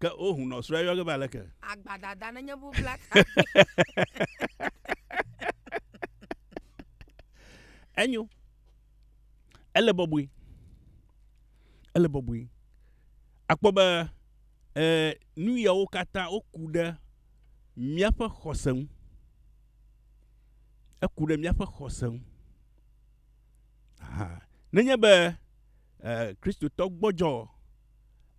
Ke o hun nɔ srɔ yɔ ke ba leke. Agba dada ne nye bu bla ta. Enyo. Ele bɔbɔe. Ele bɔbɔe. Akpɔ be eh, nu yawo katã woku ɖe míaƒe xɔse ŋu. Eku ɖe míaƒe xɔse ŋu. Nenye be eh, Kristotɔ gbɔdzɔ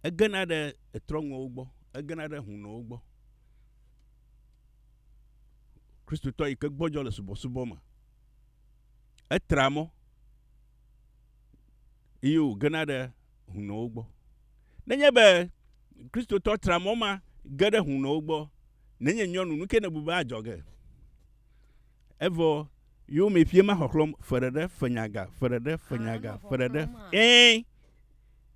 Egena ɖe etrɔ̃ŋuwo gbɔ, egena ɖe hunowo gbɔ. Kristotɔ yi ke gbɔdzɔ le subɔsubɔ me, etra mɔ eye wògena ɖe hunowo gbɔ. Nenye be Kristotɔ tra mɔ ma ge ɖe hunowo gbɔ, nenye nyɔnu, nu ke nèbu be adzɔ ge? Evɔ yewo me ƒie ma xɔxlɔ̃m, fe ɖeɖe, fe nyaga, fe ɖeɖe, fe nyaga, fe ɖeɖe, ẽ!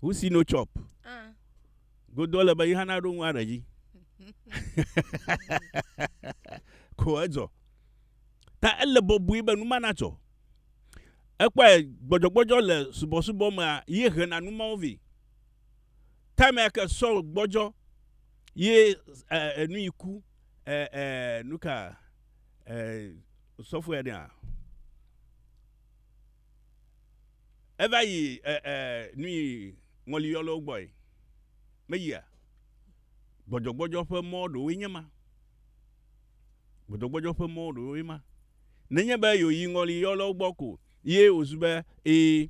Who see no chop? Ah. Godo le be yi hana ɖo ŋu aɖe dzi. Ko edzɔ. Ta ele bɔbɔe be numa natsɔ. Ekpɔe gbɔdzɔgbɔdzɔ le subɔsubɔ mea ye hena numawo vɛ. Time ke sɔ gbɔdzɔ ye enu yi ku nuka sɔfoe ɖea. Eva yi ɛ ɛ nu yi ŋɔliyɔlɔwo gbɔe. Meyia. Gbɔdzɔgbɔdzɔ ƒe mɔ ɖewoe nye ma. Gbɔdzɔgbɔdzɔ ƒe mɔ ɖewoe ma. Nenye be yewoyi ŋɔliyɔlɔwo gbɔ ko ye wòzu be ẽ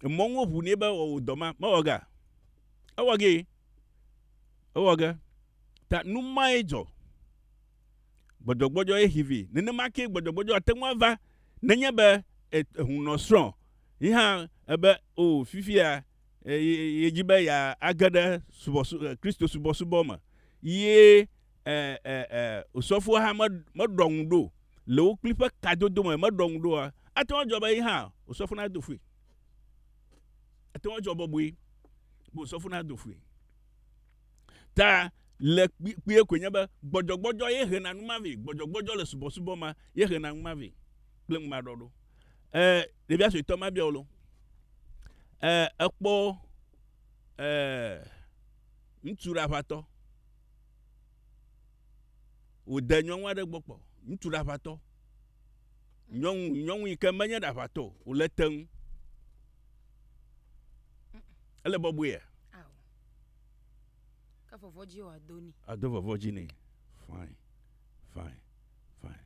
emɔ ŋu woʋu nɛ be wɔ wò dɔ ma. Mewɔ gea? Ewɔ gee. Ewɔ ge. Ta nu mae dzɔ. gbɔdzɔgbɔdzɔ ye xi vi. Nenema kee gbɔdzɔgbɔdzɔ ate ŋu ava nenye be ehunɔ srɔ̃ yi hã ebe o fifia yedi be yeage ɖe Kristo subɔsubɔ me ye osɔfoa hã meɖɔ ŋu ɖo le wo kpli ƒe kadodo me meɖɔ ŋu ɖoa, ate ŋu adzɔ be yi hã osɔfo nado fui. Ate ŋu adzɔ bɔbɔe be osɔfo nado fui. ta le kpuie koe nye be gbɔdzɔgbɔdzɔ ye hena nu ma vɛ. Gbɔdzɔgbɔdzɔ le subɔsubɔ ma ye hena nu ma vɛ kple ŋumaɖɔɖo. E, ɖevia suetɔ ma bia wolo. E, ekpɔ e, ŋutsu ɖaʋatɔ. Wòde nyɔnu aɖe gbɔ kpɔ. Ŋutsu ɖaʋatɔ. Nyɔnu, nyɔnu yi ke menye ɖaʋatɔ o, wòle te ŋu. Ele bɔbɔea? Ke vɔvɔ dzi wòa do ni. Ado vɔvɔ dzi ni. Fine, fine, fine.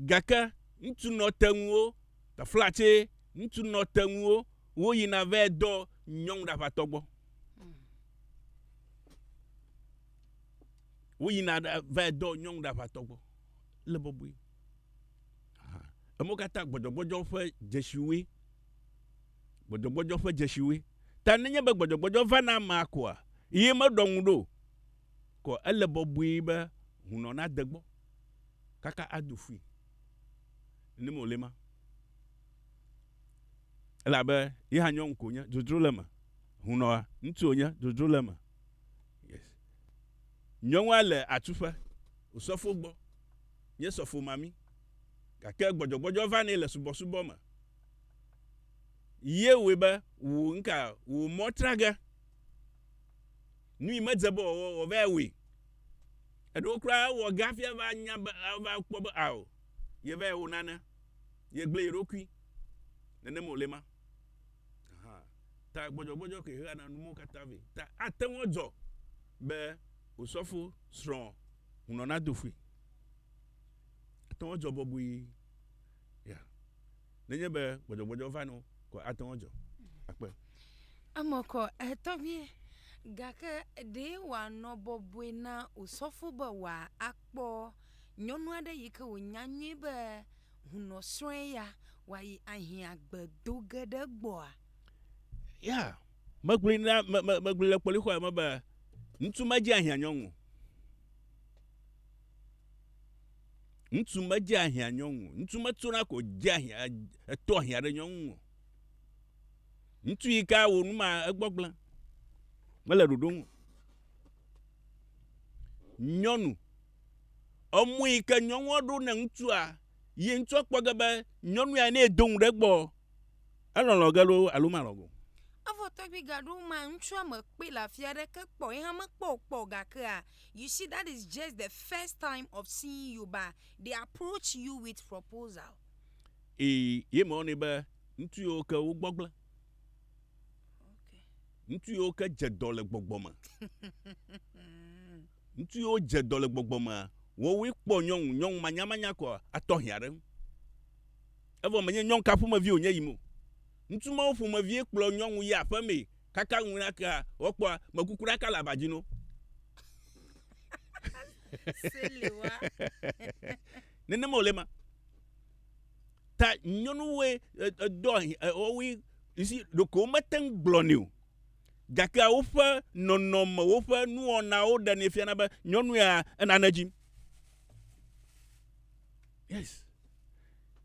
Gake ŋutsu nɔteŋuwo, tefla tse, ŋutsu nɔteŋuwo, wo yina vɛ dɔ nyɔnu ɖe aƒatɔ gbɔ. Hmm. Wo yina vɛ dɔ nyɔnu ɖe aƒatɔ gbɔ. Le bɔbɔe. Emo katã gbɔdɔgbɔdɔ ƒe dzesiwoe. gbɔdzɔgbɔdzɔ ƒe dzesiwoe ta nenye be gbɔdzɔgbɔdzɔ va na amea koa, ye meɖɔ ŋu ɖo o, ko ele bɔbɔe be hunɔ nade gbɔ kaka ado fui. Nenem wòle ema. Elabe ye hã nyɔnu ko nye, dzodzro le eme. Hunɔa, ŋutsu wònye, dzodzro le eme. Yes. Nyɔnua le atuƒe, wòsɔfo gbɔ, nye sɔfo mami, gake gbɔdzɔgbɔdzɔ va nɛ le subɔsubɔ me. Ye wɔe be wò ŋka wò mɔ tra ge. Nu yi medze be wòawɔ wɔ va wɔe. Eɖewo kura wɔ ge hafi ava nya be ava kpɔ be ao ye va wɔ nane. Ye gblẽ ye ɖokui. Nenem wòle ma. Aha ta gbɔdzɔgbɔdzɔ ke hea na numɔwo katã vɛ. Ta ate ŋu adzɔ be osɔfo srɔ̃ hunɔ nado ƒui. Ate ŋu adzɔ bɔbɔe. Ya. Nenye be gbɔdzɔgbɔdzɔ va no ko ate ŋu adzɔ. Akpe. Eme kɔ, etɔgbie. Gake ɖee wòanɔ bɔbɔe na osɔfo be wòakpɔ nyɔnu aɖe yi ke wònya nyuie be hunɔsrɔ̃e ya wòayi ahiã gbe do ge ɖe egbɔa? Ya. Megblɔe na, me, me, megblɔe le kpɔlixɔa me be ŋutsu medze ahiã nyɔnu o. Ŋutsu medze ahiã nyɔnu o. Ŋutsu metsona ko dze ahiã eto ahiã ɖe nyɔnu o. Ŋutsu yi ka wo nu ma egbɔgblẽ mele ɖoɖo nu. Nyɔnu emɔ yi ke nyɔnua ɖo ne ŋutsua ye ŋutsua kpɔ ge be nyɔnu ya ne do ŋu ɖe egbɔ Elɔlɔ ge loo alo malɔ̃ go? Evɔ tɔgbui gaɖewo mea, ŋutsua mekpɔe le afi aɖeke kpɔ o. Ye hã mekpɔ wò kpɔ o. Gakea, you see, that is just the first time of seeing you, but they approach you with proposal. Ii, Ye mewɔnɛ be ŋutsu yiwo ke wogbɔgblẽ, ŋutsu yiwo ke dze dɔ le gbɔgbɔ me. Ŋutsu yiwo dze dɔ le gbɔgbɔ mea, woawoe kpɔ nyɔnu, nyɔnu manyamanya ko atɔ hiã ɖe eŋu. Evɔ menye nyɔnu ka ƒomevi wònye yim o. Ŋutsu mawo ƒomevie kplɔ nyɔnu yia aƒe mee kaka ŋui nakea, woakpɔa mekuku ɖaka le aba dzi na wo. Nenema wòle ema. Ta nyɔnuwoe dɔa, woawoe, you see, ɖeko womete ŋu gblɔnɛ o. gakea woƒe nɔnɔme, woƒe nuwɔnawo ɖenɛ fiana be nyɔnu ya enane dzim. Yes.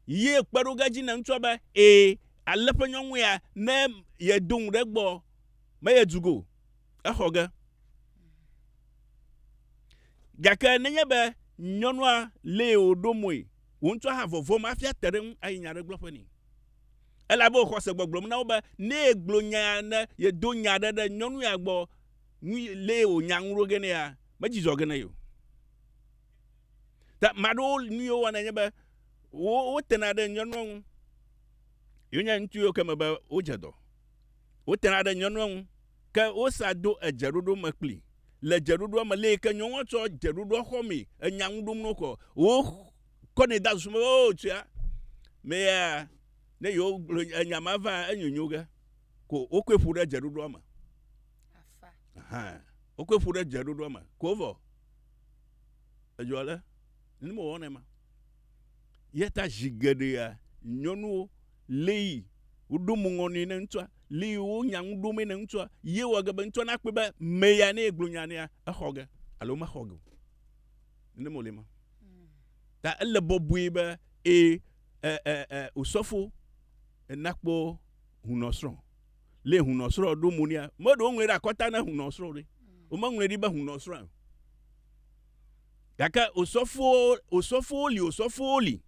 Ye kpe ɖo ge dzi ne ŋutsua be ee ale ƒe nyɔnu ya ne yedo ŋu ɖe gbɔ me yedu go exɔ ge. Gake nenye be nyɔnua lee wòɖo moe, wò ŋutsua hã vɔvɔm hafi ate ɖe ŋu ayi nya aɖe gblɔƒe nɛ. elabe wòxɔ se gbɔgblɔm na wo be ne yegblɔ nyaa ne yedo nya aɖe ɖe nyɔnu ya gbɔ ŋu lee wònya ŋu ɖo ge nɛ ya medzi zɔ ge nɛ o. Ta ame aɖewo nu yiwo wɔna nye be wo wotena ɖe nyɔnua ŋu. Yewo nye ŋutsu yiwo ke me be wodze dɔ. Wotena ɖe nyɔnua ŋu ke wosa do edzeɖoɖo me kpli. Le dzeɖoɖoa me lee ke nyɔnua tsɔ dzeɖoɖoa xɔmee enya ŋu ɖom no kɔ wo kɔ nɛ da susu o oh, tia mea ne yewo gblɔ enya ma va enyonyo ge ko wokɔe ƒu ɖe dzeɖoɖoa me wokɔe ƒu ɖe dzeɖoɖoa me ko vɔ edzɔ le ne mewɔ ne ma yeta zi geɖea nyɔnuwo le yi woɖo mo ŋɔ ne ŋutsua le yi wonya ŋu ɖo me ne ŋutsua ye wɔ ge be ŋutsua nakpɔe be meya ne egblɔ nya nea exɔ ge alo mexɔ ge o Nenem wòle ma. Ta ele bɔbɔe be ee osɔfo nakpɔ hunɔsrɔ̃. Lé hunɔsrɔ̃ ɖo mo nea, meɖewo ŋlɔe ɖe akɔta na hunɔsrɔ̃ ɖe. Womeŋlɔe ɖi be hunɔsrɔ̃ o. Gake osɔfowo, osɔfowo li, osɔfowo li.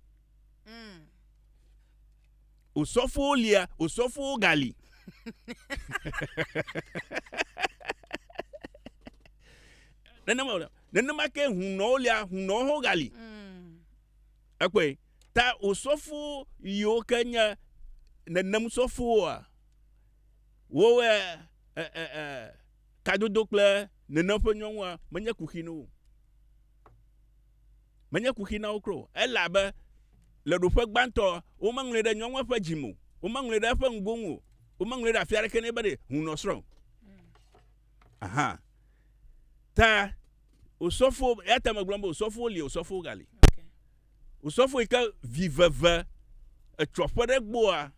Mm. Osɔfowo lia, osɔfowo gali. Nenema wòle. Nenema ke hunɔwo lia, hunɔwo ho gali. Ekpɔe. Mm. Ta osɔfo yiwo ke nye nenem sɔfowoa, wowɔe e, e, e, kadodo kple nenem ƒe nyɔnua menye kuxi na wo. Menye kuxi na wo kro. Ele abe le ɖoƒe gbãtɔ, womeŋlɔe ɖe nyɔnua ƒe dzime o. Womeŋlɔe ɖe eƒe ŋgonu o. Womeŋlɔe ɖe afi aɖeke ne be hunɔsrɔ̃. Aha. Ta osɔfo, ya ta megblɔm be osɔfo li, osɔfo gali. Osɔfo yi ke vi veve etsɔ ƒe ɖe gbɔa,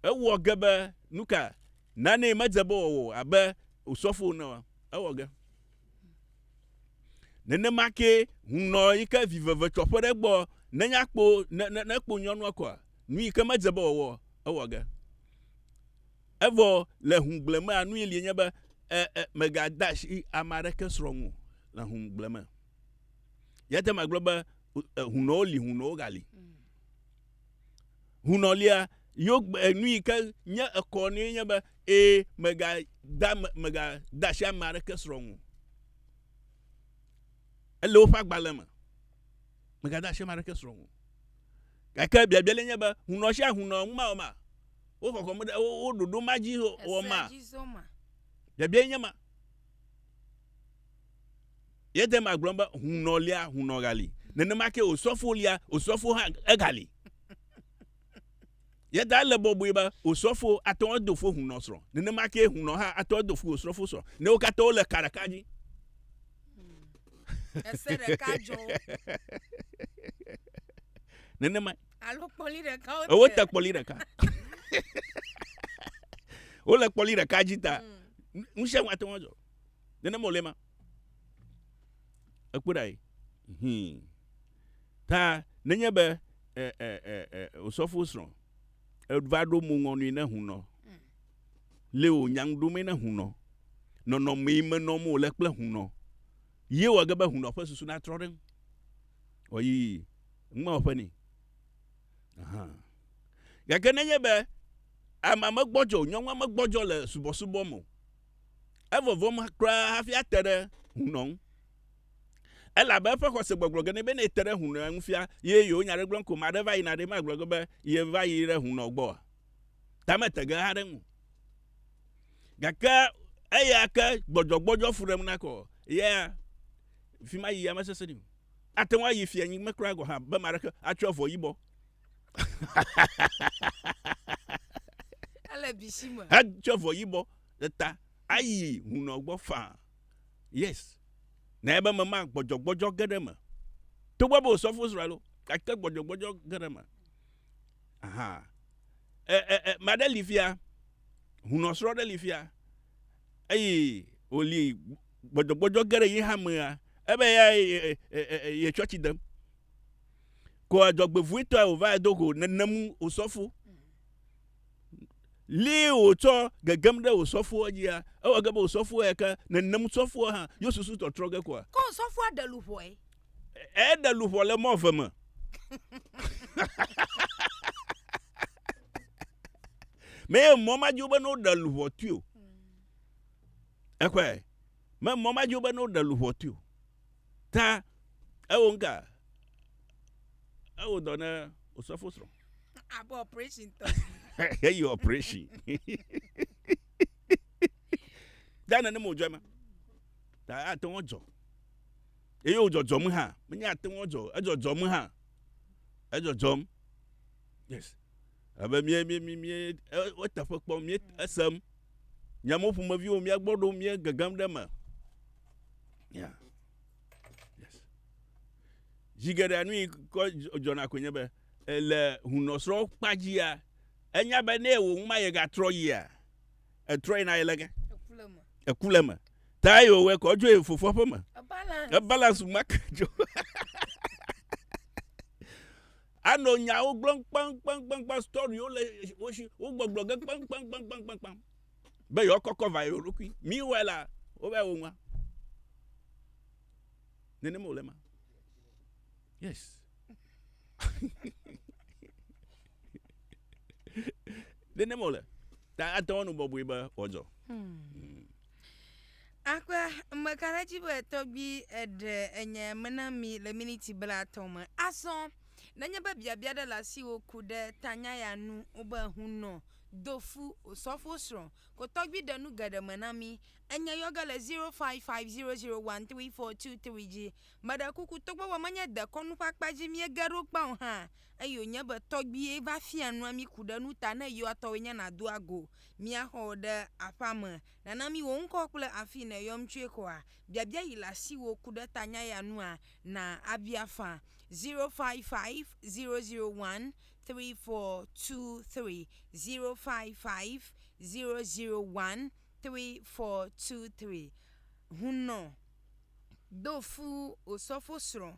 ewɔ ge be nuka nane medze be wɔwɔ abe osɔfo ne wa, ewɔ ge. Nenema ke hunɔ yi ke vi veve tsɔ ƒe ɖe gbɔ, nenya kpo, ne, ne, ne kpo nyɔnua kɔa, nu yi ke medze be wɔwɔ, ewɔ ge. Evɔ le hũgble mea, nui li nye be, e, e, megade asi ame aɖeke srɔ̃ ŋu le hũgble me. Yate ŋu agblɔ be e, hunɔwo li, hunɔwo gali. Hunɔ lia, yo e, nu yi ke nye ekɔ nui nye be, e, megade megade asi ame aɖeke srɔ̃ ŋu. Ele woƒe agbalẽ me. Megade asi ame aɖeke srɔ̃ ŋu. Gake biabia le nye be, hunɔ sia hunɔ ŋu ma o ma? Wo kɔkɔm ɖe wo ɖoɖo ma dzi o ma? Biabia nye ma. Yete ma gblɔ be hunɔ lia, hunɔ gali. Nenema ke osɔfo lia, osɔfo hã egali. Yeta le bɔbɔe be osɔfo atɔ do fo hunɔ srɔ̃. Nenema ke hunɔ hã atɔ do fo osɔfo srɔ̃. Ne wo katã wo le ka ɖeka dzi. Ese ɖeka dzɔ. Nenema. Alo kpɔli ɖeka wote. Wote kpɔli ɖeka. Wole kpɔli ɖeka dzi ta. Mm. Ŋusẽ ŋu ate ŋu adzɔ. Nenema wòle ma. Ekpɔ ɖa yi. Hmm. Ta nenye be osɔfo srɔ̃ eva ɖo mo ŋɔnui ne hunɔ. Leo nyaŋ ɖomee na hunɔ. Nɔnɔmee me nɔm wòle kple hunɔ ye wɔ ge be hunɔ ƒe susu natrɔ ɖe eŋu. Ɔyii, ŋmewɔ ƒe nɛ. Aha. Gake nenye be amea megbɔdzɔ o, nyɔnua megbɔdzɔ le subɔsubɔ me o, evɔvɔm kura hafi ate ɖe hunɔ ŋu. Elabe eƒe xɔse gbɔgblɔ ge nɛ be ne ete ɖe hunɔa ŋu fia ye yewonya aɖe gblɔm ko, ame aɖe va yina ɖe, magblɔ ge be yeva yi ɖe hunɔ gbɔa? ta mete ge haɖe ŋu. Gake eya ke gbɔdzɔgbɔdzɔ fu ɖem nakɔ yea fi ma yia mesese ni. Ate ŋu ayi fia nyigbe kura gɔha be ma ɖeke atsɔ avɔ yibɔ. Ele bisi me. Atsɔ avɔ yibɔ eta ayi hunɔ gbɔ faa. Yes. Na ebe me ma gbɔdzɔgbɔdzɔ ge ɖe me. Togbɔ be osɔfo Israel o, gake gbɔdzɔgbɔdzɔ ge ɖe me. Ahaa. E, e, e, ma ɖe li fia. Hunɔsrɔ̃ ɖe li fia. Eyi wòli gbɔdzɔgbɔdzɔ ge ɖe yi hamea. Ebe ya ye tsɔtsi dem. Ko adzɔgbevuitɔe wòva edo go nenemu wòsɔfo. Li wòtsɔ gegem ɖe wòsɔfoɔ dzia, ewɔ ge be wòsɔfoɔ ya ke nenem sɔfoɔ hã, yo susu tɔtrɔ ge koa. Ko sɔfoa ɖe luʋɔe. Eɖe luʋɔ le mɔ ve me. Me ye mɔ ma dzi wobe ne woɖe luʋɔ tui o. Ekɔe. Me mɔ ma dzi wobe ne woɖe luʋɔ tui o. Ta ewo ŋka. Ewo dɔ ne osɔfo srɔ̃. Abe operation tɔ. Eyi operation. Dana ne mo dzɔ ma. Ta ate ŋu dzɔ. Eye wòdzɔdzɔm hã. Menye ate ŋu adzɔ, edzɔdzɔm hã. Edzɔdzɔm. Yes. Ebe mie, mie, mie, mie, eteƒe kpɔm, mie esem. Nye mo ƒomeviwo, mie gbɔ ɖom, mie gegem ɖe me. Ya. Yes. Zi geɖe nu yi kɔ dzɔna koe nye be, le hunɔsrɔ̃ kpadzia, enya be ne wò ŋu ma yegatrɔ yia, etrɔ yina yele ge eku le me ta yi wòwɔe kɔ dzo yi fofoa ƒe me ebalance make dzo anɔ nyawo gblɔm kpankpankpankpan storywo le wo si wogbɔgblɔ ge kpankpankpankpankpankpan be yewoakɔkɔ va yewo ɖokui miwɔe la wova wo ŋua nenema wòle ma yes nene mole ta ate ŋu anu bɔbɔe be wòadzɔ hmm. Akpa meka ɖe dzi be tɔgbi eɖe enye mena mi le miniti blatɔ me azɔ nenye be biabia ɖe le asiwo ku ɖe tanya ya nu wobe hunɔ dofu osɔfo srɔ̃ ko tɔgbi ɖe nu geɖe me na mi enye yɔge le 0550013423 dzi meɖe kuku togbɔ be menye dekɔnu ƒe akpa dzi miege ɖo kpao hã Eyi wònye be tɔgbuie va fia nua mí ku ɖe nu ta ne yewoa tɔwoe nye nàdo ago mía xɔ ɖe aƒea me, nàna mí wò ŋkɔ kple afii nèyɔm tsoe xɔa. Biabia yi le asiwò ku ɖe ta nya ya nua? Na abia fã. 0550013423 0550013423 Hunnɔ, do fu wò sɔfosrɔ̃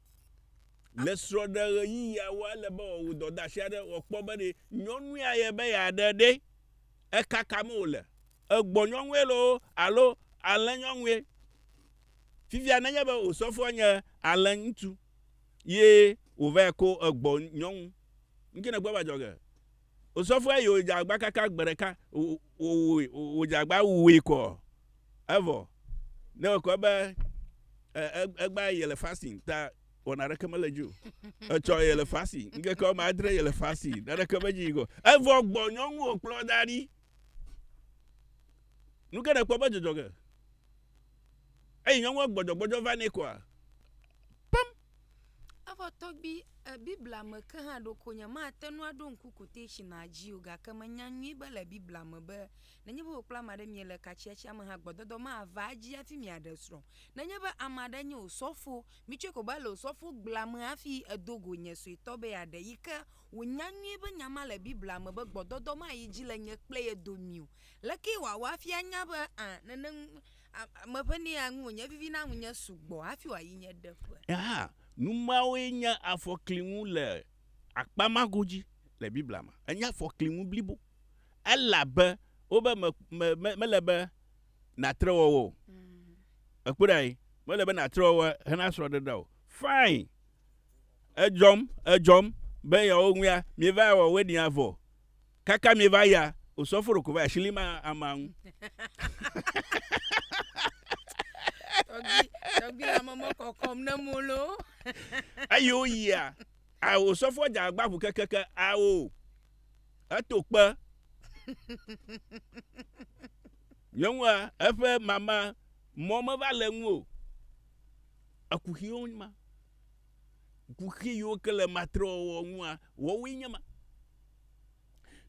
Le srɔ̃ɖeɣeyiɣiawo, ele be wòawɔ dɔdeasi aɖe wòakpɔ be ɖe nyɔnu ya ye be yeaɖe ɖe, eka ka me wòle, egbɔnyɔnue loo alo alẽnyɔnue. Fifia nenye be wò sɔfoa nye alẽŋutsu ye wòvae ko egbɔnyɔnu, nu kae nèkpɔe be adzɔ ge? Osɔfoa yi wòdze agba kaka gbe ɖeka, wòwòe, wòdze agba wòwòe kɔ. Evɔ, ne wòkɔ ebe, e, e, egbea yele fasting, ta wɔna ɖeke mele dzi o. Etsɔ yele fasting, ŋkeke wɔme adre yele fasting, naɖeke medzi yi kɔ. Evɔ gbɔ nyɔnu wòkplɔ da ɖi. Nu ke nèkpɔ be dzɔdzɔ ge? Eyi nyɔnua gbɔdzɔgbɔdzɔ va nɛ kɔa? Pam! Evɔ tɔgbi e Biblia me ke hã ɖeko nyemate ŋu aɖo ŋku kotetsinia dzi o gake menya nyuie be le Biblia me be nenye be wò kple ame aɖe miele katsiatsia me hã gbɔdɔdɔ mava edzi hafi miaɖe srɔ̃. Nenye be ame aɖe nye wò sɔfo, mitsɔe ko be ele wò sɔfogbea me hafi edo go nye suetɔ be yeaɖe yi ke wònya nyuie be nya ma le Biblia me be gbɔdɔdɔ mayi edzi le nye kple ye domii o. Lekee wòawɔ hafi anya be ã nene A, meƒe ne ya ŋu wònye vivi na ŋunye sugbɔ hafi wòayi nye ɖeƒe. Hã, nu mawoe nye afɔklinu le akpa ma godzi le Biblia me. Enye afɔklinu blibo, elabe wobe me, me, me, mele be nàtre wɔwɔ o. Èkpɔe ɖa ye? Mele be nàtre wɔwɔ hena srɔ̃ɖeɖe o. Fine. Edzɔm, edzɔm be yeawo ŋuea, mieva wɔwɔe ɖi avɔ. Kaka mi va ya o sɔ foro ko va ya shili ma ama ŋu. Tɔgbi tɔgbi la mɔmɔ kɔkɔm ne mo lo. Eyi o yi ya. A o sɔ fɔ ja gba bu keke ke a o. Eto kpe. Nyɔnua eƒe mama mɔ me va le ŋu o. Ekuxi o ma. kuxi yiwo ke le matrewɔwɔ ŋua wɔwoe nye ma.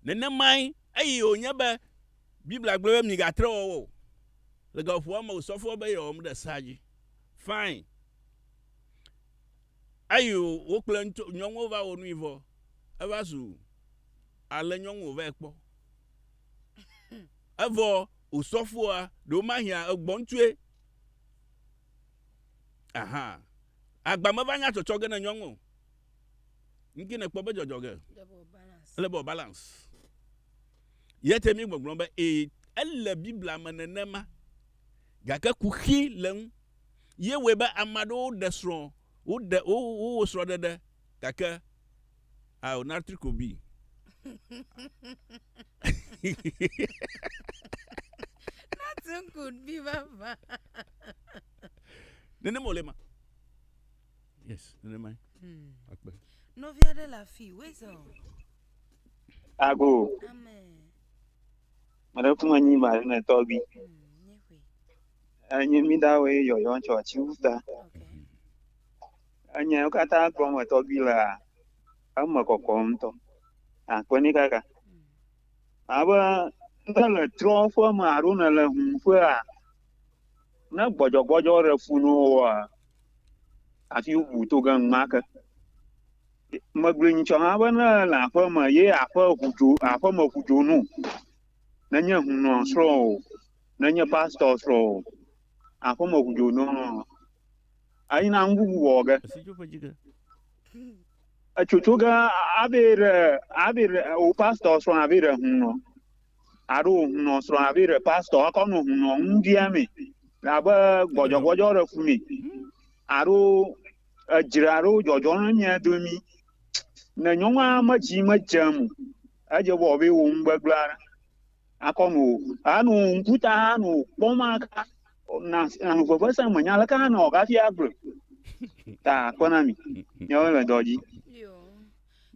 Nenemae eyi wònye be Biblia gblɔ be migatre wɔwɔ o. Le gaƒoƒoa me wòsɔ fɔ be yewɔm ɖe sea dzi. Fine. Eyi wo kple ŋutsu nyɔnuwo va wɔ nui vɔ. Eva zu ale nyɔnu wòvae kpɔ. Evɔ wòsɔ foa ɖewo mahia egbɔntsue. Aha. Agba me va nya tsɔtsɔ ge ne nyɔŋ o. Nki ne kpɔ be dzɔdzɔ ge. Ele be o balance. Yete mi gbɔgblɔ be e ele Biblia me nenema. Gake kuxi le ŋu. Ye wɔe be amaɖewo ɖe srɔ̃ wo ɖe wo wo srɔ̃ ɖeɖe gake Ao natri kobi. Nothing could be vava. Nenem wòle ma. Yes, nenem mae. Akpe. Nɔvi aɖe le afi, weza o. Ago, Amen. mele kuma nyi ma ne tɔbi. Hmm, nye ƒe. Enyi mi da we yɔyɔ tsɔ tsi wuta. Okay. Enya wo katã gɔme tɔgbi la eme kɔkɔ ŋutɔ. Akpe ni kaka. Abe ne le trɔ ƒe me alo ne le hun ƒea, ne gbɔdzɔgbɔdzɔ ɖe fu ne woa, afi ŋu to ge ŋma ke. Megblɔ nyitsɔ hã be ne le aƒe me ye aƒe ŋu dzo aƒe me ŋu dzo nu. Nenye hunɔ srɔ̃ o, nenye pastor srɔ̃ o, aƒe me ŋu dzo nu. ayi na nububu wɔwɔ ge. Etsotso ge abe ɖe abe ɖe wò pastɔ srɔ̃ abe ɖe hunɔ alo wò hunɔ srɔ̃ abe ɖe pastɔ ekɔ nɔ hunɔ nu bia me abe gbɔdzɔgbɔdzɔ ɖe fu me alo edzre alo dzɔdzɔ ɖe mia domi. Ne nyɔnua medzi medzem o, edze bɔ be wò ŋugbegblẽ aɖe. akɔ nu o. Anu ŋkuta anu kpɔ ma ka na anu veve se me nya le ka na o kafi agble. Ta akɔ na mi. Nyawo le dɔ dzi. Yo.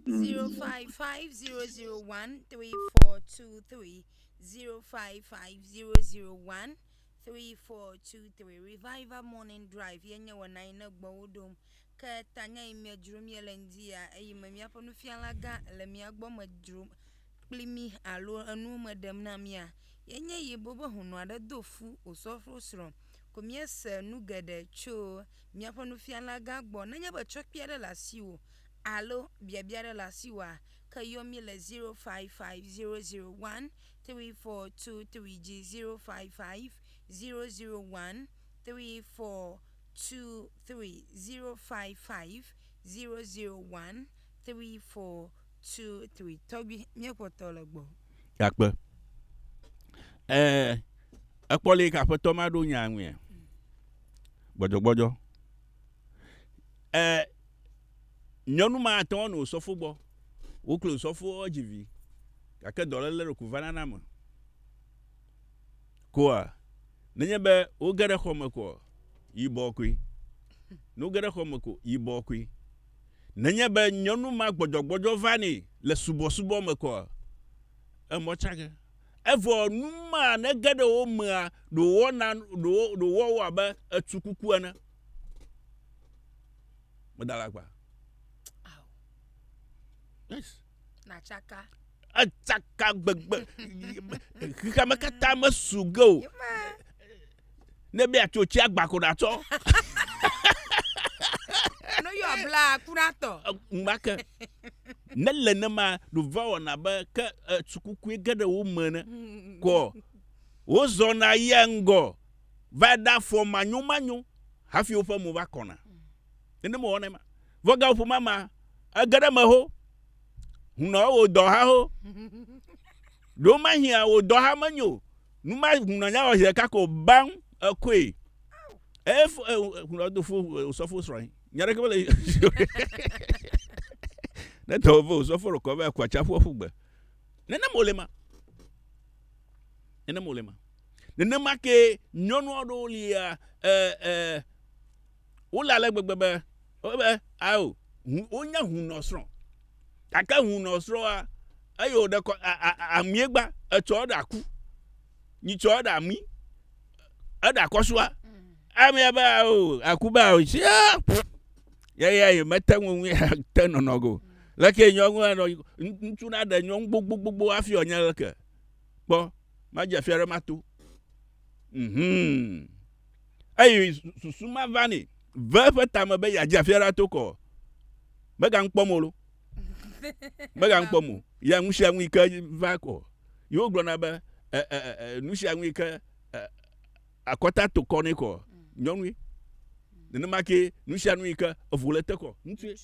Mm. Zero five five zero zero one three four two three zero five five zero zero one three four two three. Revival Morning Drive yenye wɔna yi ne gbɔwo ɖom Ke tanye yi mia dzrom ye le ŋdi ya eyi me miaƒe nufiala gã le mia gbɔ me dzrom kpli mi alo enuwo me ɖem na mia ye nye yi bo be hunu aɖe do fu o sɔfro srɔ ko mia se nu geɖe tso miaƒe nufiala gã gbɔ nenye be tsɔkpia ɖe la si wo alo biabia ɖe la si wa ke yɔ mi le 0550013423 dzi 0550013423 two three zero five five zero zero one three four two three tɔgbi míekpɔ tɔ le gbɔ. Gakpe. E ekpɔ le yi ke aƒetɔ ma ɖo nya ŋuia. Gbɔdzɔgbɔdzɔ. E nyɔnu ma ate ŋu nɔ osɔfo gbɔ. Woklo osɔfoa edzi vi gake dɔléle ɖeko vana na ame. koa? Nenye be woge ɖe xɔ me koa, yibɔ koe. Ne woge ɖe xɔ me ko, yibɔ koe. Nenye be nyɔnu ma gbɔdzɔgbɔdzɔ va nɛ le subɔsubɔ me koa, emɔ tsage. Evɔ nu ma ne ge ɖe wo mea, ɖo wɔna, ɖo wo, ɖo wɔ wo abe etu kuku ene. Meda la gba. Yes. nàtsaka atsaka gbegbe xexeame katã mesu ge o ne be atso tsi agba ko ɖatsɔ no yɔ bla kura tɔ ŋgbake ne le ne ma ɖova wɔna be ke tsukukue ge ɖe wo me ne kɔ wozɔna yia ŋgɔ va ɖe afɔ manyo manyo hafi woƒe mo va kɔna nene mewɔnɛ ma Vɔ ga ƒo mama, ege ɖe me ho, hunɔ wo dɔ ha ho. Ɖo ma hia wo dɔ ha me nyo, nu ma hunɔ nya wɔ hia kako bang ekoe. E fo e hunɔ do fo o sɔ fo srɔe. Nya ɖeke mele. Ne tɔ wo fo sɔ fo rokɔ be akwa cha fo fo gbe. Ne ne mo le ma. Ne ne mo le ma. Ne ne ma ke nyɔnu aɖewo lia e e wole ale gbegbe be wobe ao wonye hunɔsrɔ̃ gake hunɔsrɔ̃a eye wòɖe kɔ amie gba etsɔ eɖa ku nyitsɔ eɖa mi eɖa kɔsua amea be ao aku be ao si yeye ye mete ŋu ŋu te nɔnɔ go leke nyɔnu anɔ ŋutsu na ɖe nyɔnu gbogbogbogbo afi ɔnye leke kpɔ madze fia ɖe mato mhm mm eye susu ma va nɛ ve eƒe tame be yeadze afi aɖe ato kɔ. Megaŋu kpɔm o lo. Megaŋu kpɔm o. Ya nu sia nu yi ke va kɔ. Yewo gblɔna be e, e, e, e nu sia nu yi ke e, akɔta to kɔ nɛ kɔ. Mm. Nyɔnui. Nenema ke nu sia nu yi ke evo le te kɔ. Ŋutsue.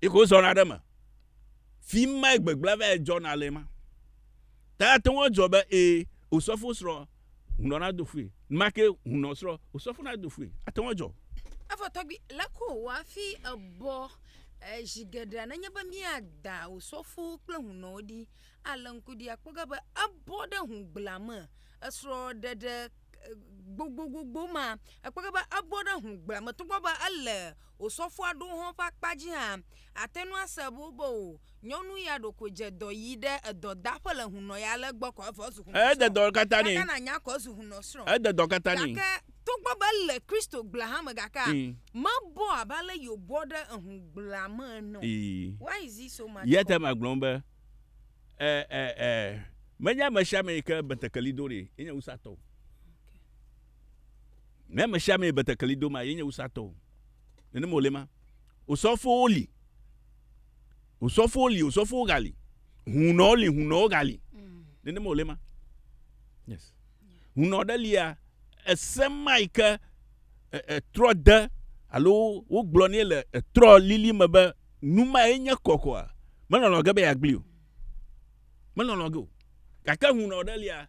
Yi ke wozɔna ɖe me. Fi mae gbegblẽ va dzɔna le ma. Ta ate ŋu adzɔ be ee, osɔfo srɔ̃ hunɔ na do fue. Make hunɔ srɔ osɔ fo na do fue. Ate ŋu adzɔ. Evɔ tɔgbi, le ko wò afi ebɔ zi geɖea nenye be mía da wò sɔfo kple hunɔwo ɖi. Ale ŋku ɖi akpɔ ga be ebɔ ɖe hũgbla me. Esrɔ ɖeɖe gbogbogbogboma ekpɔ ga be ebɔ ɖe hũgbla me togbɔ be ele Wò sɔfoa ɖo hɔn ƒe akpa dzi hã àte ŋu ase ebo be wò nyɔnu ya ɖo ko dze dɔ yi ɖe edɔdaƒe le hunɔ ya le egbɔ kɔ evɔ ezu hunɔsrɔ̃. Gake na nya ko ezu hunɔsrɔ̃. Gake togbɔ be ele Kristo gblea hã me gakea, mebɔ abe ale yi wòbɔ ɖe ehũgblea me ene o. Why is he so much called? Ne ame sia amee betekeli dom a, yenye wusatɔ o. Nenema wòle ma. Osɔfowo li. Osɔfowo li, osɔfowo gali. Hunɔwo li, hunɔwo gali. Mm. Nenema wòle ma. Yes. Hunɔ ɖe lia, ese ma yi ke etrɔ e, de alo wogblɔ nɛ le etrɔ lili me be nu ma ye nye kɔkɔa, melɔlɔ ge be yeagblii o. Melɔlɔ ge o. Gake hunɔ ɖe lia,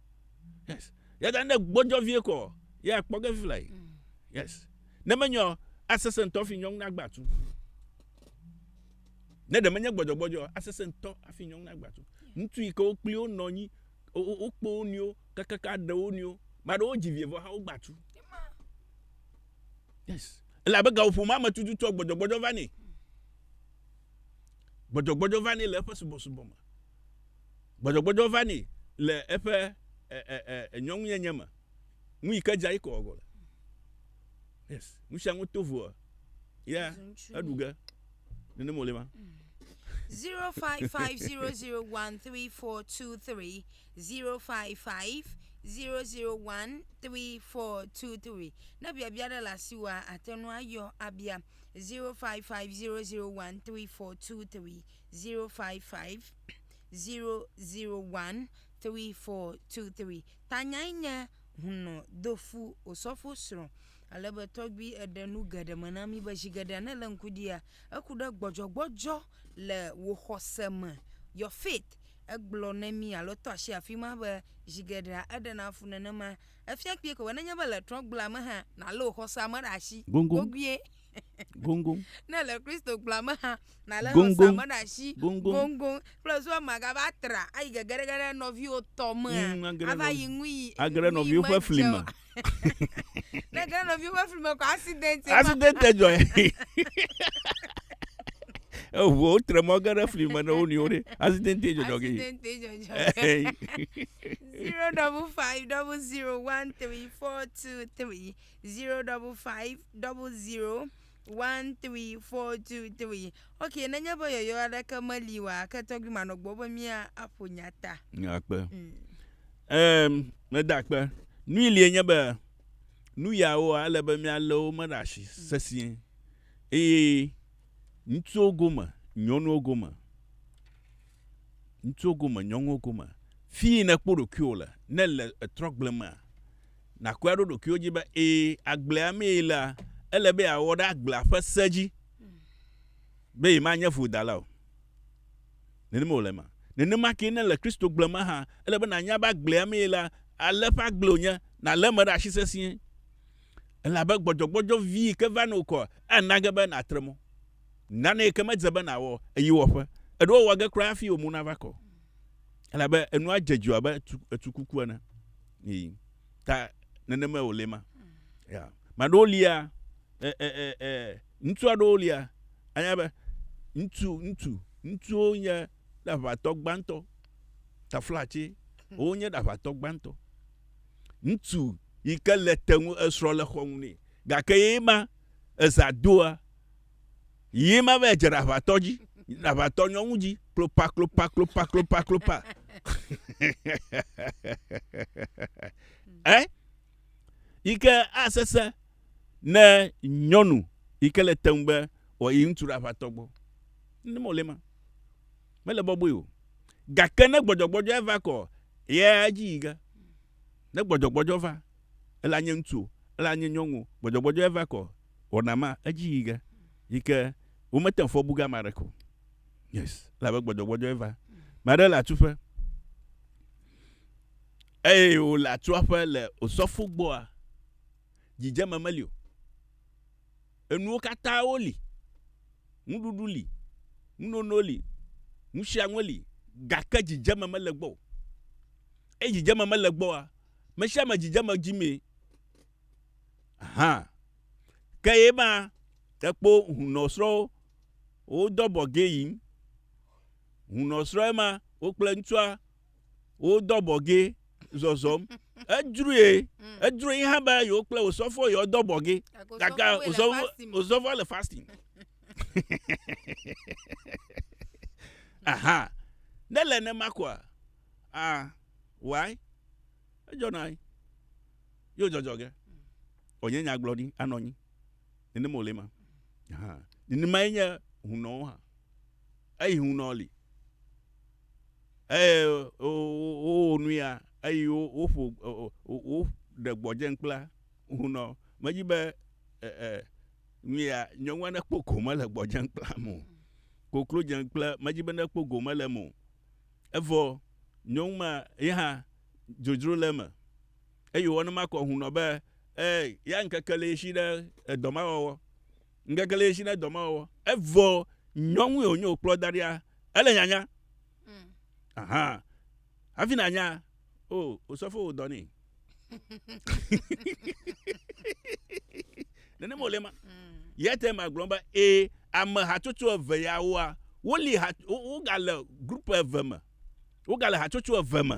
yes yàda ne gbɔdzɔ vie kɔ yà kpɔ ge fila yi mm. yes ne menyɔ asese ŋutɔ fi nyɔnu agba tu ne ɖe menye gbɔdzɔgbɔdzɔ asese ŋutɔ afi nyɔnu agba tu ŋutsu yi ke wo kpli wo nɔ anyi wokpɔ wo nɔewo kakaka ɖe wo nɔewo ame aɖewo dzi vie vɔ hã wogba tu yes elabe gawoƒomea me tututu gbɔdzɔgbɔdzɔ va nɛ gbɔdzɔgbɔdzɔ va nɛ le eƒe subɔsubɔ me Gbɔdzɔgbɔdzɔ va nɛ le eƒe nyɔnunyenye me. Nu yi ke dza yi kɔ gɔle. Yes, nu sia nu to voa. Ya, eɖu ge. Nene mo le ma. 0550013423 0550013423 ne biabia ɖe le asiwòa ate ŋu ayɔ abia 0550013423 zero five five zero zero one three four two three tanyae nye hunɔ dofu osɔfo srɔ̃ ale be tɔgbi eɖe nu geɖe me na mi be zi geɖe ne le ŋku dia eku ɖe gbɔdzɔgbɔdzɔ le wò xɔse me your faith egblɔ ne mi alo tɔ asi afi ma be zi geɖea eɖe na fu nenema efia kpie ko be nenye be le trɔgbla me hã nalé wò xɔsea me ɖe asi Goŋgoŋ. goguie goŋgoŋ ne le kristo gblɔa me hã nalé Goŋgoŋ. xɔsame ɖe asi Goŋgoŋ. goŋgoŋ kple zua magava tra ayi gegeɖege ɖe nɔviwo tɔ mea Mm, age ɖe ava nɔvi- yi ŋu yi age ɖe ŋu yi nɔviwo ƒe medze fli o. me. ne ge ɖe nɔviwo ƒe fli me kɔ accident ye ma. accident dzɔe eʋuwo tre mɔ ge ɖe fli me ne wo nɔewo ɖe accident dzɔdzɔ ge Accident ye dzɔdzɔ. Zero double five double zero one three four two three zero double five double zero one three four two three ok nenye be yɔyɔ aɖeke meli wa ke tɔgbi manɔ gbɔ be mía aƒo nya ta akpe ɛm meda akpe nui lie nye be nu yawoa ele be míalé wo me ɖe asi sesĩe eye ŋutsuwo gome nyɔnuwo gome Ŋutsuwo gome, nyɔnuwo gome, fi yi nèkpɔ ɖokuiwò le, ne èle etrɔgble mea, nàkɔe aɖo ɖokuiwò dzi be, ɛ̃, agblea mee yelea, ele be yeawɔ ɖe agblea ƒe se dzi be yemanye vodala o. Nenema wòle ema. Nenema kee ne le Kristogble me hã, ele be nànya be agblea mee yelea, ale ƒe agble wònye, nàlé eme ɖe asi sesĩe, elabe gbɔdzɔgbɔdzɔ vi yi ke va nɔ wò kɔa, ana ge be nàtre mɔ. Nane ke medze be nàwɔ eyi wɔƒe. Eɖo ewɔ ge kura hafi wò mo nava kɔ. Elabe enua dze dzo abe tu, etu kuku ene. Yi. Ta nenemae wòle ma. Ya. Maɖewo lia, e, e, e, e, ŋutsu aɖewo lia, anya be ŋutsu, ŋutsu, ŋutsuwo nye ɖaʋatɔ gbãtɔ. Taflatse, wonye ɖaʋatɔ gbãtɔ. Ŋutsu yi ke le te ŋu esrɔ̃ le xɔ ŋu nɛ. Gake ye ma, eza doa, Yiyim ava yi dze ɖe aʋatɔ dzi, ɖe aʋatɔ nyɔnu dzi, klopa, klopa, klopa, klopa, klopa. eh? Yi ke asese ne nyɔnu yi ke le teŋu be wòayi ŋutsu ɖe aʋatɔ gbɔ. Ne mele ma. Mele bɔbɔe o. Gake ne gbɔdzɔgbɔdzɔ eva kɔ, ye edzi yi ge. Ne gbɔdzɔgbɔdzɔ va, ele anye ŋutsu, ele anye nyɔnu, gbɔdzɔgbɔdzɔ eva kɔ, wɔna ma edzi yi ge yi ke womete ŋu fɔ bu ge ame aɖeke o. Yes, elabe gbɔdzɔgbɔdzɔe va. Ame aɖe le atuƒe eye wòle atua ƒe le osɔfo gbɔa, dzidzeme meli o. Enuwo katã woli. Nuɖuɖu li, nunono li, nu sia nu li gake dzidzeme mele gbɔ o. Eye dzidzeme mele gbɔa, me sia me dzidzeme dzimee. hã. Ke ye ma tekpo hunɔ srɔwo wo dɔ bɔ gé yin. Hunɔ srɔ ye ma wo kple ŋtsua wo dɔ bɔ gé zɔzɔm. Édrue, édrue yi hã be yewo kple osɔfo yewo dɔ bɔ gé. Gake osɔfo, osɔfo le fasting. Aha. Ne le ne ma kɔa, ah, why? Edzɔ na yi. Yo dzɔdzɔ ge. O nye nyagblɔɖi anɔ anyi. Nenem o le ma. Ha. Nenema ye nye hunɔwo hã. Eyi hunɔ li. Eye wo nu ya, eyi wo wo ƒo o o wo ɖe gbɔdze nkpla hunɔ. Me dzi be e e nu ya nyɔnua ne kpɔ gome le gbɔdze nkpla mo. Koklo dze nkpla me dzi be ne kpɔ gome le mo. Evɔ nyɔnuma ye hã dzodzro le me. Eye wòwɔ ne makɔ ŋu nɔ be, Ee, ya ŋkeke le ɣeshi ɖe edɔ ma wɔwɔ. Ŋkeke le ɣeshi ɖe edɔ ma wɔwɔ. Evɔ nyɔnue wònye wòkplɔ da ɖia, ele nyanya. Mm. Aha. Hafi nanya, o, oh, osɔfo wò dɔ nɛ. Nenema wòle ma. Mm. Yɛ te magblɔ be, ee, ame hatsotso eve yawoa, woli ha, wogale grup eve me. Wogale hatsotso eve me.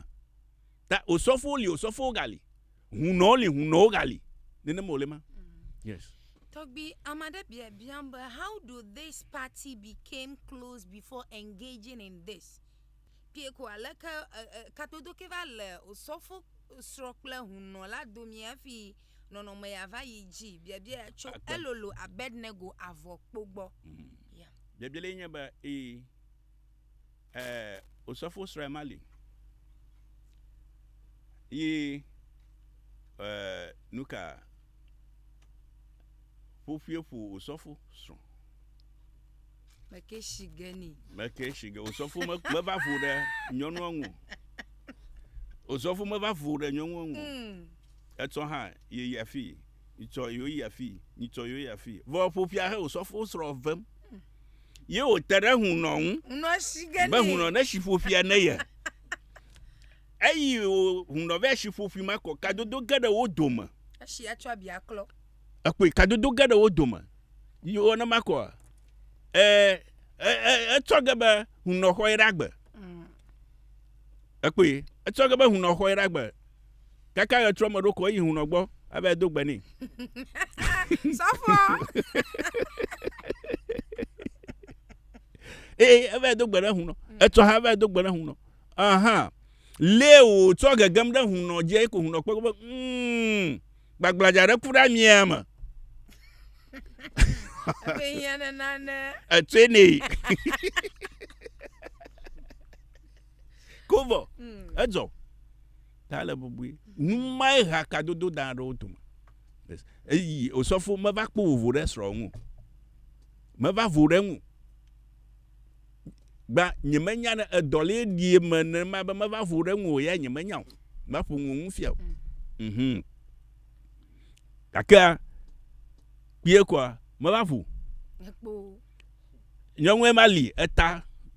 Ta osɔfowo li osɔfowo gali, hunɔwo li hunɔwo gali. Nenema wòle ma. Yes. Tɔgbi, ame aɖe bia biam be how do this party became close before engaging in this? Pie ko aleke katodo ke va le osɔfo srɔ̃ kple hunɔ la domi hafi nɔnɔme ya va yi dzi? Biabia ya tso elolo Abednego avɔkpo gbɔ. Mm. Yeah. Biabia le nye be ee. E, osɔfo srɔe ma li. Yi e, nuka ƒoƒue ƒo osɔfo srɔ? Meke shi ge ni. Meke shi ge. Osɔfo me, me va vo ɖe nyɔnua ŋu. Osɔfo me va vo ɖe nyɔnua ŋu. Mm. Etsɔ hã yi afi. Nyitsɔ yewo yi afii, nyitsɔ yewo yi afii. Vɔ eƒo ƒia he wòsɔfo srɔ̃ vem. Ye wòte ɖe hunnɔ ŋu. Hunnɔ shi ge nɛ. Be hunnɔ ne shi ƒo ƒia ne ye. Eyi hunnɔ vɛ shi ƒo ƒi ma kɔ kadodo ge ɖe wo dome. Eshi atsɔ abi aklɔ. Ekpɔe kadodo ge ɖe wo dome. Yi wɔ ne ma kɔ e etsɔ ge be hunnɔ xɔ ye ɖe agbe. Ekpɔe etsɔ ge be hunnɔ xɔ ye ɖe agbe. Kaka ɣetrɔ me ɖo ko eyi hunɔ gbɔ ava do gbe nɛ. Sɔfɔ. Ee eva do gbe ɖe hunɔ. Etsɔ ha eva do gbe ɖe hunɔ. Aha. Lé o tsɔ gegem ɖe hunɔ dzi eko hunɔ kpɔ be mm gbagbladzaa ɖe ku ɖe amia me. Ebe hiã ne nane. Etsɔe nɛ. Ko vɔ, edzɔ. Ta le bubui. Nu mae ha kadodo dan aɖewo dome. Eyi osɔfo meva kpɔ vovo ɖe srɔ̃ ŋu. Meva vo ɖe ŋu. Gba nyemenya ne edɔ le ɖi me ne ma be meva vo ɖe ŋu o ya nyemenya o. Ma ƒo ŋu ŋu fia o. Mm. Mhm. Gakea kpie koa meva vo. Ekpo. Nye ŋue ma li eta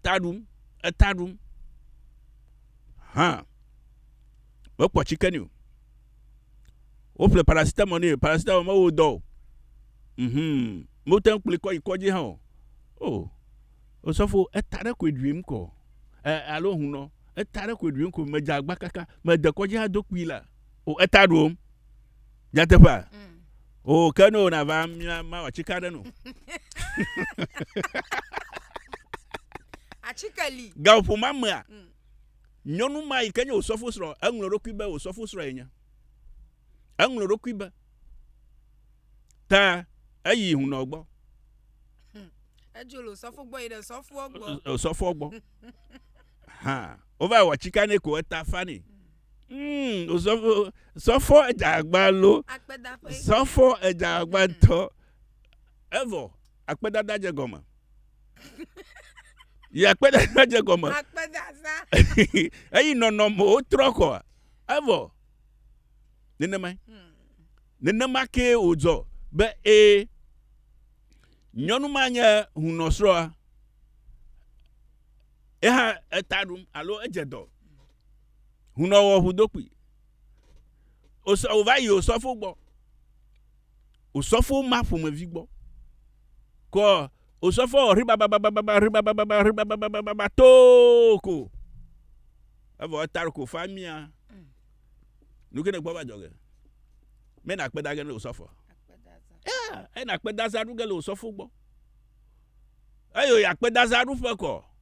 ta ɖum, eta ɖum. Hã. Me kpɔ tsike ni o. Wo ƒle paracetamol ni, paracetamol me wo dɔ o. Mhm. Mo te ŋkpli kɔ yi kɔ dzi hã o. O. O sɔfo, eta ɖe koe ɖuim kɔ. E, alo hun nɔ. Eta ɖe koe ɖuim kɔ, me dza agba kaka, me de kɔ dzi hã do kpui la. O eta ɖum. nyateƒea o oh, ke ne wòna va mia mawɔ atsike aɖe no atsike li gaƒo ma mea mm. nyɔnu ma yi ke nye wòsɔfo srɔ̃ eŋlɔ ɖokui be wòsɔfo srɔ̃ yenye eŋlɔ ɖokui be ta eyi hunɔ gbɔ hmm. edzo le osɔfo gbɔ yi ɖe sɔfoɔ gbɔ osɔfoɔ gbɔ hã wova wɔ atsike ne ko eta fa ne Mm, osɔfo, sɔfo edagba lo. Akpedaƒe. Sɔfo edagba ŋutɔ. Evɔ, akpedada dze gɔme. Yi akpedada dze gɔme. Akpedada. Eyi nɔnɔmewo trɔ kɔa. Evɔ, nenemae. Hmm. Nenema ke wòdzɔ be ee, nyɔnu ma nye hunɔsrɔ̃a. Eha eta ɖum alo edze dɔ. Hunɔwɔ ŋu do kpui. Wòva yi osɔfo gbɔ. Osɔfo ma ƒomevi gbɔ. Kɔ osɔfo wɔ ʋi bababababa ʋi babababa ʋi babababa too ko. Evɔ eta ko fa mia. Nu ke ne gbɔ va dzɔ ge. Me na kpe da ge ne osɔfo. Ya, ena kpe da za ɖu ge le osɔfo gbɔ. Eyo ya kpe da za ɖu ƒe kɔ.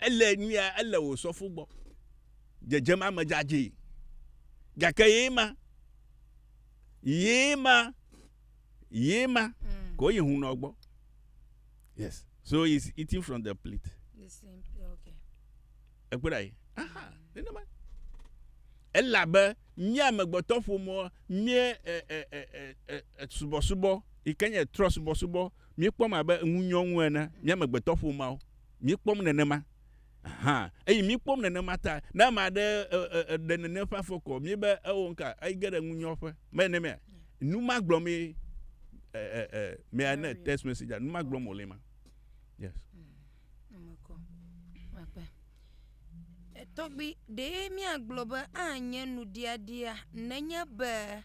Ele nyuia ele wò sɔfo gbɔ. Dzedzem ame dzadzɛ. Gake ye ma. Ye ma. Ye ma. Mm. Ko yi hunɔ gbɔ. Yes. So he's eating from the plate. The same plate, okay. Ekpɔ ɖa yi. Aha, nenema. Mm. elabe mía amegbetɔ ƒomɔ mie subɔsubɔ yi ke nye trɔ subɔsubɔ míekpɔm abe ŋunyɔnu ene mía amegbetɔ ƒomeawo Míekpɔm nenema hã. Eyi míekpɔm nenema ta. Ne ame aɖe ɖe nene ƒe afɔkɔ, míebe eo ŋka, ege ɖe ŋunyɔƒe. Mele nenema ya. Nu ma gblɔm ye, ɛ, ɛ, ɛ, may I net text message, nu ma gblɔm wòle ma. Yes. Tɔgbi, ɖee míagblɔ be anye nuɖiaɖia nenye be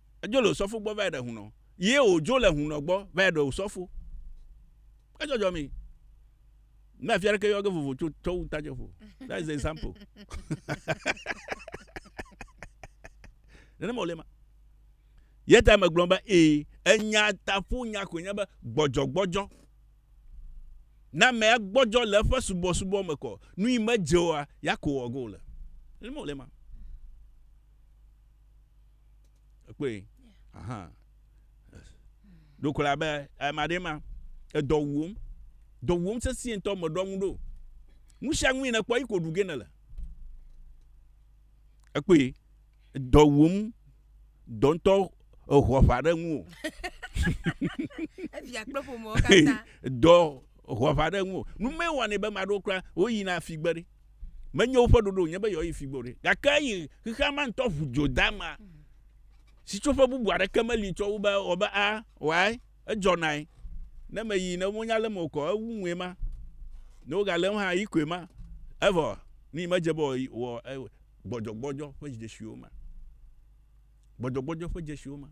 Edzo le osɔfo gbɔ va yi ɖe hunɔ. Ye wòdzo le hunɔ gbɔ va yi ɖe osɔfo. Edzɔdzɔ mi. Ne afia ɖeke yɔ ge vovo tso tɔ wu ta jɔfo. That is the example. Nenema wòle ma. Ye ta megblɔ be ee, enya taƒo nya koe nye be gbɔdzɔgbɔdzɔ. Ne amea gbɔdzɔ le eƒe subɔsubɔ me kɔ, nu yi medze oa, ya ko wòwɔ ge wòle. Nenema wòle ma. ekpɔe ahan ɖo kola be ame aɖe ma edɔ wuwom dɔ wuwom sesĩe ŋutɔ meɖɔ ŋu ɖo nu sia nu yi nèkpɔ yi ko ɖu ge nèle ekpɔe dɔ wuwom dɔ ŋutɔ eho aʋa ɖe ŋu o evia kple ƒomewo katã dɔ ho aʋa ɖe ŋu o nu mewɔnɛ be ame aɖewo kura woyina figbe ɖi Menye woƒe ɖoɖo nye be yewoayi figbɔ ɖe. Gake eyi xexea ma ŋutɔ ʋu dzo dama. Sitsoƒe bubu aɖeke meli tsɔ wo be wɔ be a wɔae. Edzɔnae. Ne meyi ne wonya lem o kɔ ewu ŋue ma. Ne wogalem hã yi koe ma. Evɔ ni medze be wɔ gbɔdzɔgbɔdzɔ ƒe dzesiwo ma. Gbɔdzɔgbɔdzɔ ƒe dzesiwo ma.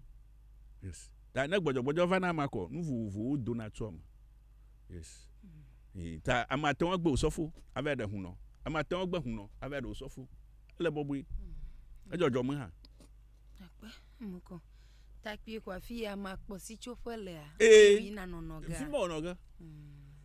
Yes. Ta ne gbɔdzɔgbɔdzɔ va na ma kɔ nu vovovowo dona tso eme. yes yi ta ame ate ŋu agbe osɔfo ava ɖe hun nɔ ame ate ŋu agbe hun nɔ ava ɖe osɔfo ele bɔbɔe mm. edzɔdzɔ me hã. akpe eme kɔ takpui kɔ afi ya ma kpɔ sitsoƒe lea. ee fi ma nɔnɔ ge. fi ma nɔnɔ ge.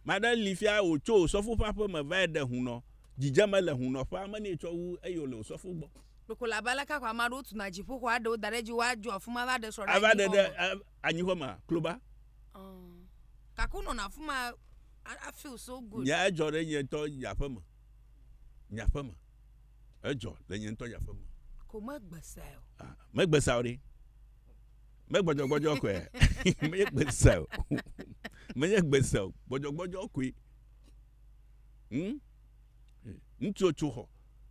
maɖe li fia wòtso osɔfo ƒe aƒe me va ɖe hun nɔ dzidzeme le hun nɔ ƒe ame ne etsɔ wu eye wòle osɔfo gbɔ. kpekpe le abe aleke xɔ ame aɖewo tuna dziƒoxɔ aɖewo da ɖe dzi woadzɔ afima va ɖe srɔ̃ ɖe anyi xɔ me. anyixɔ mea kloba. Oh. Gake wonɔna afi ma afeel so good. Nya edzɔ ɖe nye ŋutɔ nye aƒe me. Nye aƒe me. Edzɔ le nye ŋutɔ nye aƒe me. Ko megbesae o. Ah, megbesae o ɖe. Megbɔdzɔgbɔdzɔ koe. Menye gbesa o. Menye gbesa o. Gbɔdzɔgbɔdzɔ koe. Hmm? Ŋutsu tso xɔ.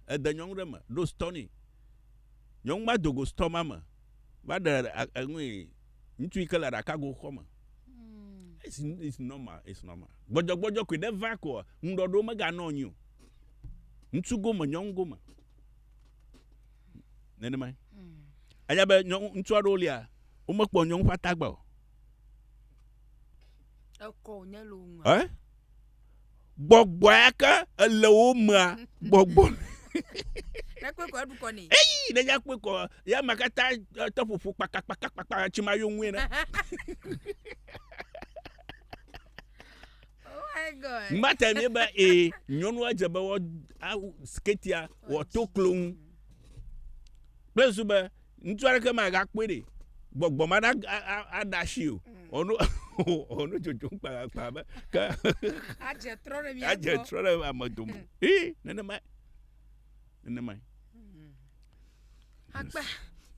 Ede nyɔnu ɖe me. Ɖo stɔ nɛ. Nyɔnu ma dogo stɔ ma me. va ɖe enui ŋutsu yi ke le ɖakago xɔ me hmm. it's, it's normal it's normal gbɔdzɔgbɔdzɔ koe ɖe va koa ŋuɖɔɖo meganɔ anyi o ŋutsu gome nyɔnu gome nenema hmm. anya be nyɔnu ŋutsu aɖewo lia womekpɔ nyɔnu ƒe atagba o ekɔ wònye le wo ŋu eh? gbɔgbɔ yake ele wo mea gbɔgbɔ Nakpɔe kɔ eɖukɔ nɛ. eyi ne ya kpɔe kɔ ya ma katã eh, te ƒoƒo kpakpakpakpakpa tsi ma yo ŋue na Oh my God. mate ne be ee nyɔnua dze be wɔ awu siketia wɔ to klo ŋu kple zu be ŋutsu aɖeke magakpɔe ɖe gbɔgbɔ ma ɖa aɖe asi o ɔno ɔno dzodzom kpakpakpa be ke adze trɔ ɖe mia adze trɔ ɖe ame dome ee nenema nenema hmm. akpa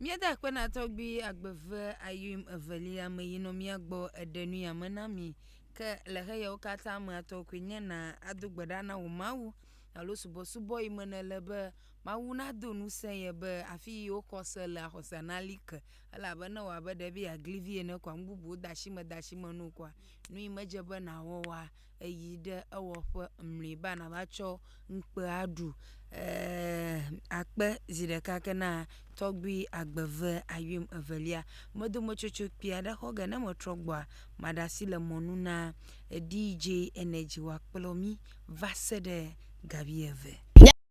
míeda akpe na tɔgbi agbeve ayim evelia me yi nɔ mía gbɔ eɖe nu yame na mi ke le xeyawo katã me atɔ koe nye na ado gbe ɖa na wò mawu alo subɔsubɔ yi me nele be Mawu nado ŋusẽ ye be afi yi wokɔ se lea, xɔsea nali ke. Elabena ewɔ abe ɖe be yeagli vi ene koa, nu bubuwo de asi me de asi me na wò koa, nu yi medze be nàwɔ oa, èyi ɖe ewɔƒe mlɔeba nàva tsɔ ŋukpe aɖu. Ɛɛ, akpe zi ɖeka ke na tɔgbui agbe ve ayuim evelia. Medo metsotso kpui aɖe xɔ ge. Ne metrɔ gbɔa, maɖe asi le mɔ nu na DJ Energy wòakplɔ mí va se ɖe ga wuieve.